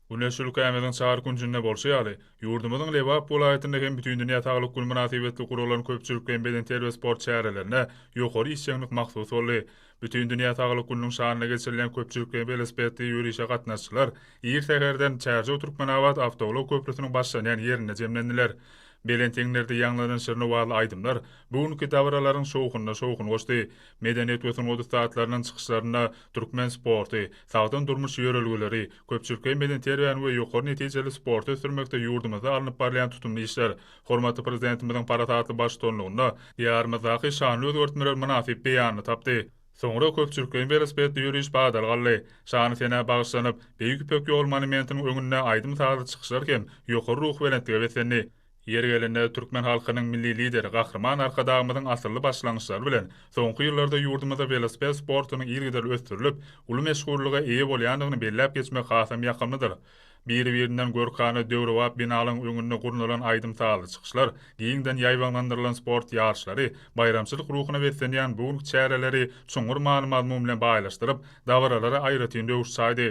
Güneş ülkämiziň çar künjünde bolşy ýaly, ýurdumyzyň Lebap welaýatynda hem Bütindünýä saglyk güni mynasybetli guralan köpçülikleýin bedenterbiýe sport çärelerine ýokary işjeňlik mahsus boldy. Bütindünýä saglyk gününiň şanyna geçirilýän köpçülikleýin welosipedli ýörişe gatnaşyjylar ir säherden Çärjew-Türkmenabat awtoulag köprüsiniň başlanýan ýerinde jemlendiler. Belent eňlerde ýaňlanan şirin owazly aýdymlar bu günki dabaralaryň şowhunyna şowhun goşdy. Medeniýet we sungat ussatlarynyň çykyşlarynda türkmen sporty, sagdyn durmuş ýörelgeleri, köpçülikleýin bedenterbiýäni we ýokary netijeli sporty ösdürmekde ýurdumyzda alnyp barylýan tutumly işler, hormatly Prezidentimiziň parasatly baştutanlygynda Diýarymyzdaky şanly özgertmeler mynasyp beýanyny tapdy. Soňra köpçülikleýin welosipedli ýöriş badalga aldy. Şany-senä bagyşlanyp, Beýik Ýüpek ýoly monumentiniň öňünde aýdym-sazly çykyşlar hem ýokary ruhubelentlige beslendi. Ýeri gelende türkmen halkynyň Milli Lideri Gahryman Arkadagymyzyň asylly başlangyçlary bilen soňky ýyllarda ýurdumyzda welosiped sportunyň yzygiderli ösdürilip, uly meşhurlyga eýe bolýandygyny belläp geçmek hasam ýakymlydyr. Biri-birinden görkana, döwrebap binalaryň öňünde gurnalan aýdym-sazly çykyşlar, giňden ýaýbaňlandyrylan sport ýaryşlary, baýramçylyk ruhuna beslenýän bu günki çäreleri çuňňur many-mazmun bilen baýlaşdyryp, dabaralara aýratyn röwüş çaýdy.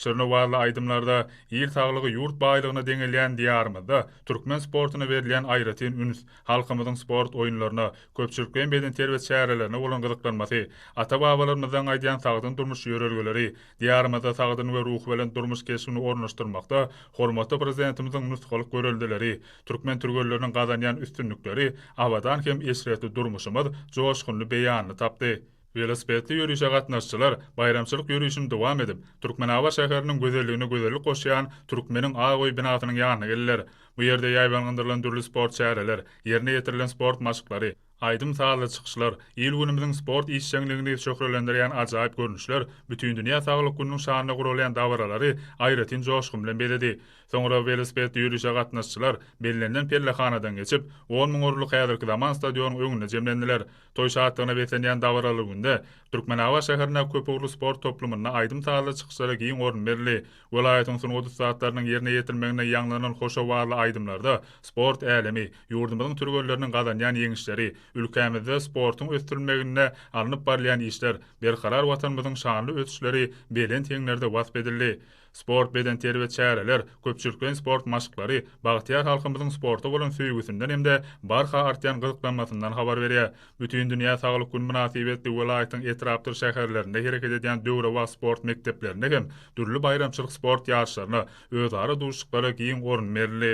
Şirniwazly aýdymlarda Il saglygy ýurt baýlygyna deňelýän Diýarymyzda türkmen sportuna berilýän aýratyn üns, halkymyzyň sport oýunlaryna, köpçülikleýin bedenterbiýe çärelerine bolan gyzyklanmasy, ata-babalarymyzdan gaýdýan sagdyn durmuş ýörelgeleri, Diýarymyzda sagdyn we ruhubelent durmuş keşbini ornaşdyrmakda hormatly Prezidentimiziň nusgalyk göreldeleri, türkmen türgenleriniň gazanýan üstünlikleri abadan hem eşretli durmuşymyz joşgunly beýanyny tapdy. Welosipedli ýörişe gatnaşyjylar baýramçylyk ýörişini dowam edip, Türkmenabat şäheriniň gözelligine gözellik goşýan Türkmeniň ak öý binasynyň ýanyna geldiler. Bu ýerde ýaýbaňlandyrylan dürli sport çäreler, ýerine ýetirilen sport maşklary, aýdym-sazly çykyşlar, il-günümiziň sport işjeňligini şöhlelendirýän ajaýyp görnüşler Bütindünýä saglyk gününiň şanyna guralýan dabaralary aýratyn joşgun bilen bezedi. Soňra welosipedli ýörişe gatnaşyjylar bellenilen pellehanadan geçip, on müň orunlyk häzirki zaman stadionyň öňünde jemlendiler. Toý şatlygyna beslenýän dabaraly günde Türkmenabat şäherinde köpugurly sport toplumynda aýdym-sazly çykyşlara giň orun berildi. Welaýatyň sungat ussatlarynyň ýerine ýetirilmeginde ýaňlanan hoşowazly aýdymlarda sport älemi, ýurdumyzyň türgenleriniň gazanýan ýeňişleri, ülkämizde sportuň ösdürilmeginde alnyp barylýan işler, berkarar Watanymyzyň şanly ösüşleri belent heňlerde wasp edildi. Sport, bedenterbiýe çäreler, köpçülikleýin sport maşklary bagtyýar halkymyzyň sporta bolan söýgüsinden hem-de barha artýan gyzyklanmasyndan habar berýär. Bütindünýä saglyk güni mynasybetli welaýatyň etrapdyr şäherlerinde hereket edýän döwrebap sport mekdeplerinde hem dürli baýramçylyk sport ýaryşlaryna, özara duşuşyklara giň orun berildi.